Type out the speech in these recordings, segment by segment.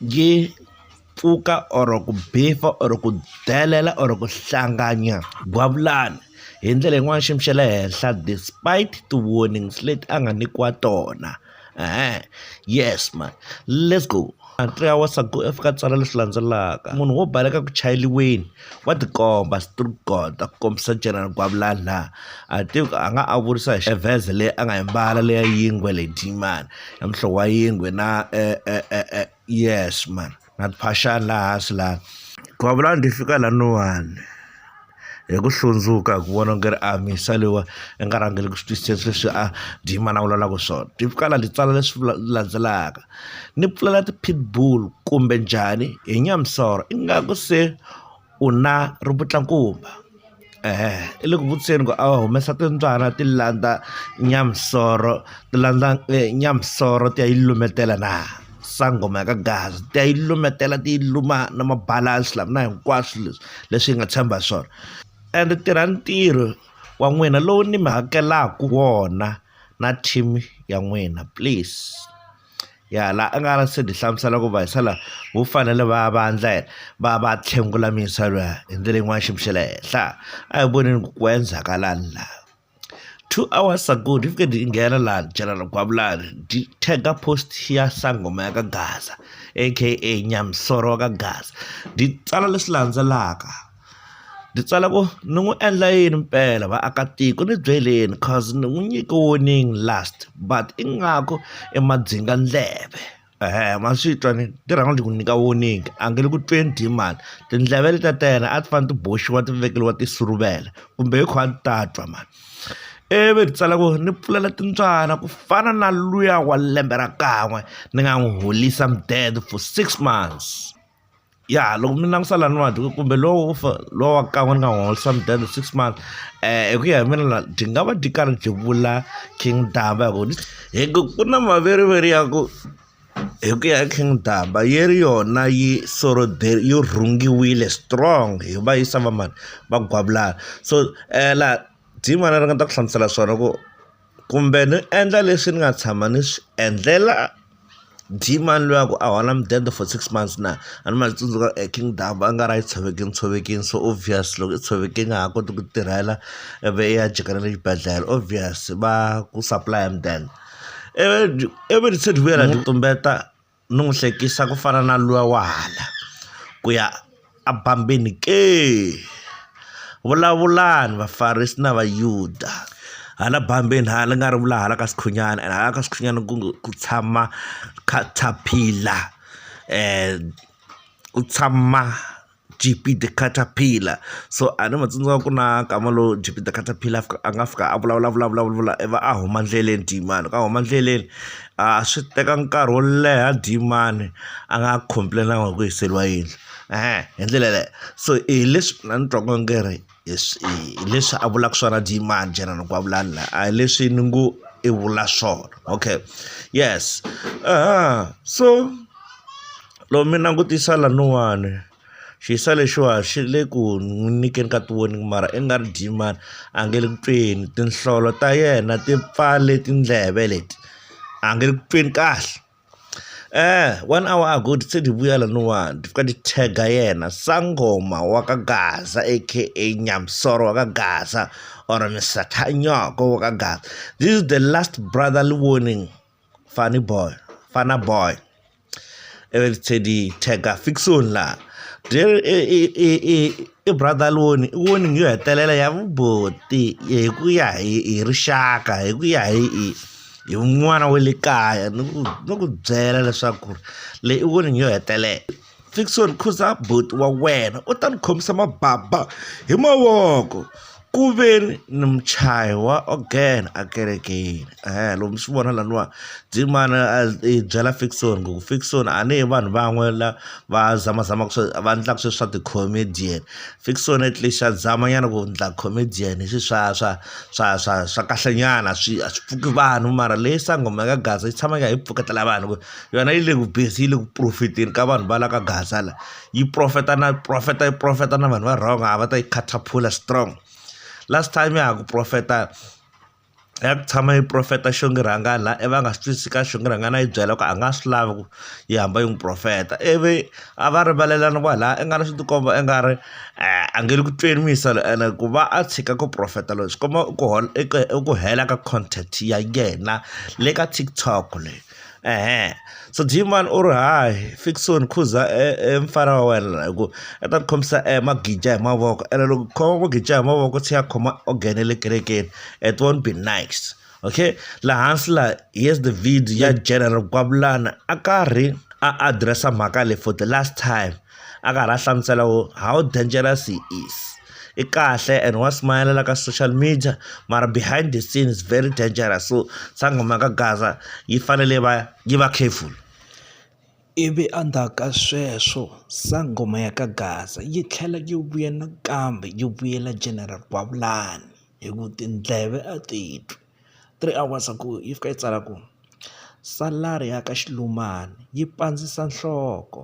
yi pfuka or ku beef-a or ku delela or ku hlanganya gwavulani hi ndlela yin'wani xiyimo xa le henhla despite ti warnings leti a nga nyikiwa tona yes mhani lets go three hours ago a fika a tsala leswi landzelaka munhu wo baleka ku chayeliweni Wa tikomba street god a ku kombisa General Gwavulani a ti a nga a vurisa hi vest leyi a nga yi mbala leya yingwe leyi diyimani ya muhlovo wa yingwe na e e e e yes man na timphaxani laha hansi laha Gwavulani ti fika laniwani hi ku hlundzuka hi ku vona ku ri a misa leyiwa i nga rhangeli ku swi twisisa leswi a diyimani a vulavulaka swona ti fika laha ti tsala leswi landzelaka ni pfulela ti-pitbull kumbe njhani hi nyamisoro ingaku se u na ri vutlakumba i le ku vutiseni ku a va humesa timbyana ti landza nyamisoro ti landza nyamisoro ti ya yi lumetela na sangoma ya ka gaza ti ya yi lumetela ti yi luma na mabalansi lama na hinkwaswo leswi leswi yi nga tshemba hi swona ende tirha ntirho wa n'wina lowu ni mi hakelaku wona. na team ya n'wina please ya la a nga se hi hlamusela ku va hi sala vo fanele va va ndla va va tlhengula misa lwa hi ndlela yin'wana xi mixele henhla a hi voneni ku ku endzhaka lani la two hours ago ni fike ni nghena la general gwavulani ndi tagga post ya sangoma ya ka gaza aka nyamisoro wa ka gaza ndi tsala leswi landzelaka Ndzi tsala ku ni n'wi endla yini mpela vaakatiko ni byeleni coz ni n'wi nyike warning last but ingaku i madzinga ndleve ma swi twa ni ti rhanga ti ku nyika warning a nge le ku tweni dee mhani tindleve letiya ta yena a ti fanele ti boxiwa ti vekeriwa tisuruvela kumbe hi khuwa a ti ta twa mhani ivi hi tsala ku ni pfulela timbyana ku fana na luya wa lembe ra kan'we ni nga n'wi holisa mudende for six months. ya loko mi langusa laniwani kumbe lowu lowu wa kan'we ni nga n'wi holisa mudende six months hi ku ya hi mina la byi nga va byi karhi byi vula king taba hi ku ni hi ku ku na maveriveri ya ku hi ku ya hi king taba yi ri yona yi yo rhungiwile strong hi va yi sava mani va gwavilana so la ri nga ta ku hlamusela swona ku. kumbe ni endla leswi ni nga tshama ni swi endlela Dee-man luya ku a hola mudende for six months na a ni ma tsundzuka e King Ndaba a nga ri a yi tshovekini tshovekini so obvious loko i tshoveke i nga ha koti ku tirhela i vi i ya jika na le xibedhlele obvious va ku supply-a mudende ivi ivi ni tlhe ni vuyela ni tumbeta. ni n'wi hlekisa ku fana na luya wa hala ku ya a bambini ke. Vulavulani vaFarisi na Vayuda. Hala bambini hala ni nga ri vula hala ka Sikhunyana and hala ka Sikhunyana ku ku tshama caterpillar ku tshama G_P the catapiller so a ni mu tsundzuka ku na nkama lowu G_P the catapiller a nga fika a vulavula a vulavula a vulavula ivi a huma endleleni Dieman loko a huma endleleni a swi teka nkarhi wo leha Dieman a nga complain-anga hi ku hiseriwa yindlu hi ndlela yeleyo so hi leswi mina ni twaka onge ri. hi leswi a vulaka swona Dlemmani General Kwavulan la a hi leswi ni ngo i vula swona okay yes so loko mi langutisa lanuwani xisa lexiwa xi le ku n'wi nyikeni ka tiwoni mara i nga ri Dlemmani a nge le ku tweni tinhlolo ta yena ti pfale tindleve leti a nge le ku tweni kahle. Eh, one hour ago ti se ti vuya laniwani ti fika ti tag-a yena sangoma wa ka gaza aka nyamsoro wa ka gaza or misathanyoko wa ka gaza this is the last brotherly warning funny boy fana boy ivi ti tlhe ti tag-a fiction laha i brother loni i warning yo hetelela ya vuboti hi ku ya hi hi rixaka hi ku ya hi hi. hi n'wana wa le kaya ni ku ni ku byela leswaku ri leyi i warning yo hetelela Fickson khuza buti wa wena u ta ni khomisa mababa hi mavoko ku ve ni ni muchayi wa ogene a kerekeni loko mi swi vona laniwa dzimana a hi byela Fickson ku Fickson a ni hi vanhu van'we la va zamazamaka swa va endlaka sweswi swa ti-comedian Fiction at least xa zama nyana ku endla comedian hi swi swa swa swa swa swa kahle nyana swi a swi pfuki vanhu mara leyi sangoma ya ka gaza yi tshama yi kha yi pfuketela vanhu ku yona yi le ku busy yi le ku profit-eni ka vanhu va la ka gaza la yi profit-a na profit-a yi profit-a na vanhu va wrong a va ta yi khathaphula strong last time ya ha ku profit-a. a ya ku tshama yi profeta xingirhangani la i va nga swi twisisi ka xingirhangani a yi byela ku a nga swi lavi ku yi hamba yi n'wi profeta ivi a va rivalelana kwala i nga ri swi tikomba i nga ri a nge le ku tweni muyisa loyi ene ku va a tshika ku profeta loyi swi komba ku i ku hela ka content ya yena le ka TikTok leyi. Eeh so Gman u ri hayi Ferguson khuza e e mfana wa wena la hi ku i ta ku khomisa e magija hi mavoko ene loko u khoma magija hi mavoko u tlhela a khoma organ ya le kerekeni it won't be nice okay la hansi la yes the video ya general Kwavulana a karhi a address-a mhaka leyi for the last time a karhi a hlamusela ku how dangerous he is. i kahle and wa smiler ka social media mara behind the scene is very dangerous so sangoma ka gaza yi fanele va yi va careful ivi endzhaku ka sweswo sangoma ya ka gaza yi tlhela yi vuya nakambe yi vuyela general gwavulani hi ku tindleve a ti twi three hours ago yi fika yi tsala ku salary ya ka xilumani yi pandzisa nhloko.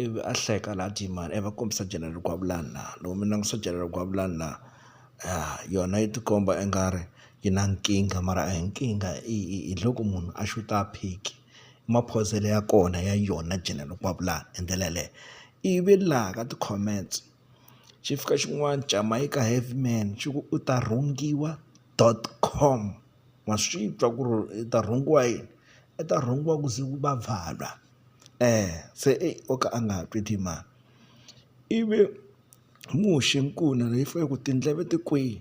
ivi a hleka la dyi mani a va kombisa General Gwavulani la loko mi langutisa General Gwavulani la yona yi tikomba i nga ri yi na nkingha mara a hi nkingha hi loko munhu a xuta a phiki i maphozele ya kona ya yona General Gwavulani hi ndlela yaleyo ivi laha ka ti-comments xi fika xin'wana Jamaica Heavy Man xi ku u ta rhungiwa dot com wa swi twa ku ri u ta rhungiwa yini u ta rhungiwa ku ze ku va valwa. Ee, se ei o ka a nga ha twi timhaka. Ivi muxe nkuna leyi fe ku tindleve ti kwihi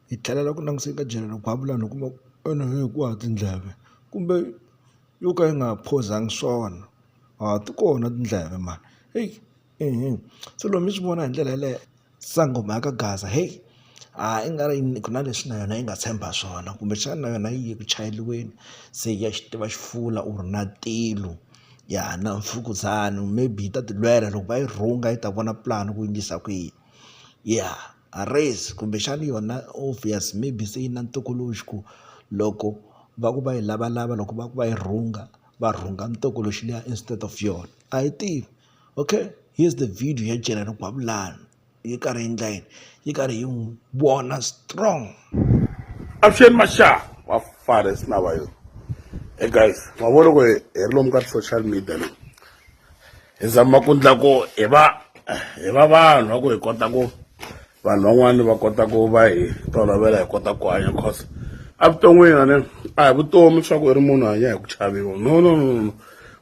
hi tlhelela ku languseni ka Jalel Gwavulani hi kuma ku ene hi ku haha tindleve kumbe yo ka yi nga ha phozangi swona ha ti kona tindleve mhani heyi. se loko mi swi vona hi ndlela yaleyo sangomhaka Gaza heyi a i nga ri yini ku na leswi na yona yi nga tshemba swona kumbexana na yona yi ku chayeriweni se ya xi tiva xifula or na tilo ya na mfukuzana maybe yi ta tilwela loko va yi rhunga yi ta vona pulani ku endlisa ku yini ya race kumbexana yona obvious maybe se yi na ntokoloxi ku loko va ku va yi lavalava loko va ku va yi rhunga va rhunga mutokoloxi liya instead of yona a hi tivi. okay here's the video ya General Gwabulani yi karhi yi endla yini yi karhi yi n'wi vona strong avuxeni masha wa fare sina va yona hey guys ma vona ku hi ri lomu ka social media leyi hi zama ku ndla ku hi va hi va vanhu va ku hi kota ku vanhu van'wani va kota ku va hi tolovela hi kota ku hanya cause evuton'wini a ni a hi vutomi swa ku i ri munhu hanya hi ku chaviwa no no no no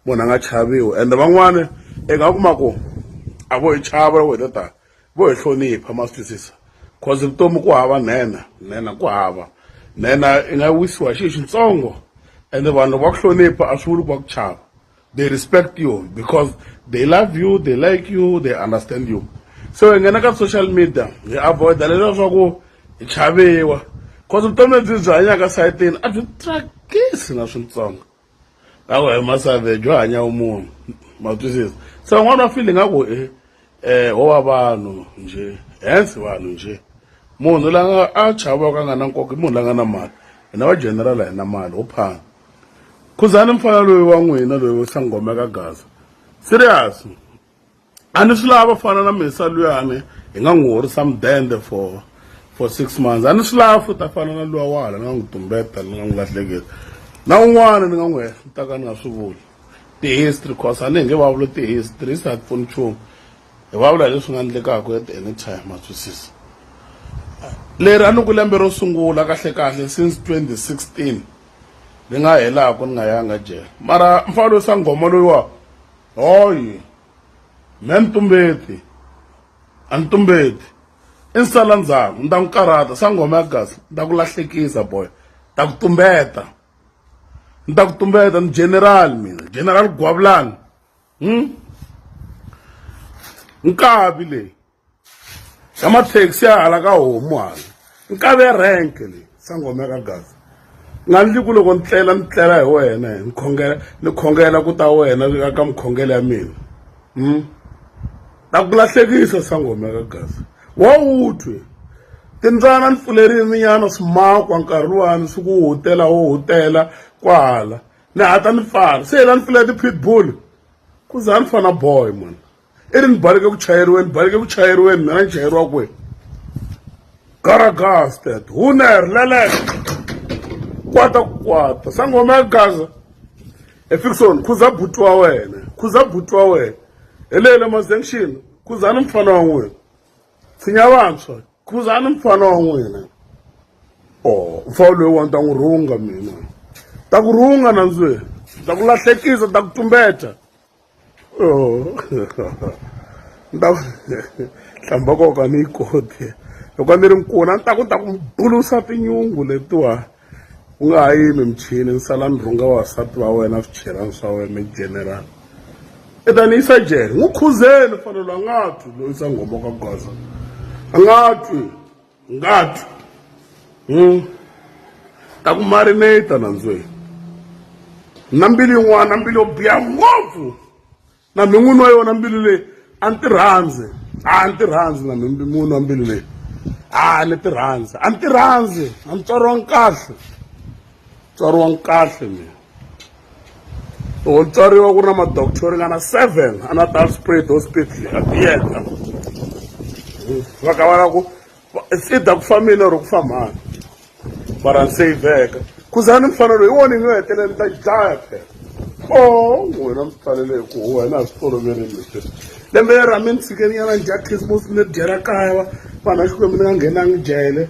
munhu a nga chaviwi ende van'wani i nga kuma ku a vo hi chava loko hi ta ta vo hi hlonipha ma swi twisisa cause vutomi ku hava nhenha nhenha ku hava nhenha i nga wisiwa hi xi xitsongo ende vanhu loko va ku hlonipha a swi vuli ku va ku chava. they respect you because they love you they like you they understand you so hi nghena ka social media hi avoida leswa swa ku hi chaviwa cause vutomi lebyi byi hanyaka sayitini a byi tsakisi na swintsongo lako hi masave byo hanya u munhu ma twisisa se van'wana va file nga ku e um wo va vanhu njhe hence vanhu njhe munhu la nga a chavaka a nga na nkoka i munhu la nga na mali hina va general hi na mali ho phanga khuzani mfana loyi wa n'wina loyi wo sangoma ka gaza serious a ni swi lava fana na mesa luyani hi nga n'wi horisa mudende for for six months a ni swi lava futa fana na luwa wahala ni nga n'wi tumbeta ni nga n'wi lahleketa na un'wana ni nga n'wi hehlutaka ni nga swi vuli ti-history cause a ni hi nge vavula ti-history se a ti pfuni nchumu hi vavula hi leswi nga endlekaka at any time ma twisisa leri a ni ku lembe ro sungula kahlekahle since 2016 ni nga helaku ni nga yanga jele mara mfana loyi sanghoma loyiwa hoyi me ni tumbeti a ni tumbeti i ni sala ndzhaku ni ta n'wi karhata sanghoma ya kasi ni ta ku lahlekisa boy ta ku tumbeta ni ta ku tumbeta ni general mina general gwavulani hmm? nkavi leyi ya mathekisi ya hala ka homu hala nkave ya renke leyi sangoma ya ka gaza nga ndli ku loko ni tlela ni tlela hi wena ni khongela ni khongela ku ta wena ka mukhongela ya mina um ta ku lahlekisa sangoma ya ka gaza wa wu twi timbyana ni pfulerile minyana swimakwa nkarhi luwani swi ku hutela wo hutela kwahala ni hata ni pfala se la ni pfulele ti-pitbull ku za ni fana boy mani i ri ni baleke ku chayeriweni baleke ku chayeriweni mina ni chayeriwa kwihi garagasted huner leleke kwata ku kwata sangoma ya gaza efikisoni khuza buti wa wena khuza buti wa wena hi leyi le mazenction khuzani mfana wa n'wina tshinya vantshwa khuzani mfana wa n'wina o oh, mfawu loyi wani ta n'wi rhunga mina ta ku rhunga nandzweni ta ku lahlekisa ta ku tumbeta Oh. ni ta hlamba koka ni yi koti loko a ni ri nkuna ni ta ku ta ku bulusa tinyungu letiwa ku nga ha yimi michini ni sala ni rhunga vavasati va wena swichelani swa wena mi general i ta ni yisa jele n'wi khuzeni fanelo a nga twi loyisa nghoma ka goza a nga twi Ngati. Hmm. Ta ku marinate nandzweni. Na mbilu yin'wana na mbilu yo biha ngopfu. Na mi n'wini wa yona mbilu leyi a ni ti rhandzi. A ni ti rhandzi na mi n'wini wa mbilu leyi. A ni ti rhandzi. A ni ti rhandzi. A ni tswariwanga kahle. Tswariwanga kahle mina. loko ni tswariwa ku ri na madoctor yo ringana seven a na ta spray those people a tiyeta va ka va la ku it's either ku fambile or ku fambani mara ni saveka khuzani mfanelo hi wona yi nga hetelela ni ta dlaya phela o n'wina mi fanele hi ku huwa hina a swi toloverile leswi lembe ra mi ni tshikeninyana ni dya christmas ni dyela kaya va vanhu va xikwembu ni nga nghenangi jele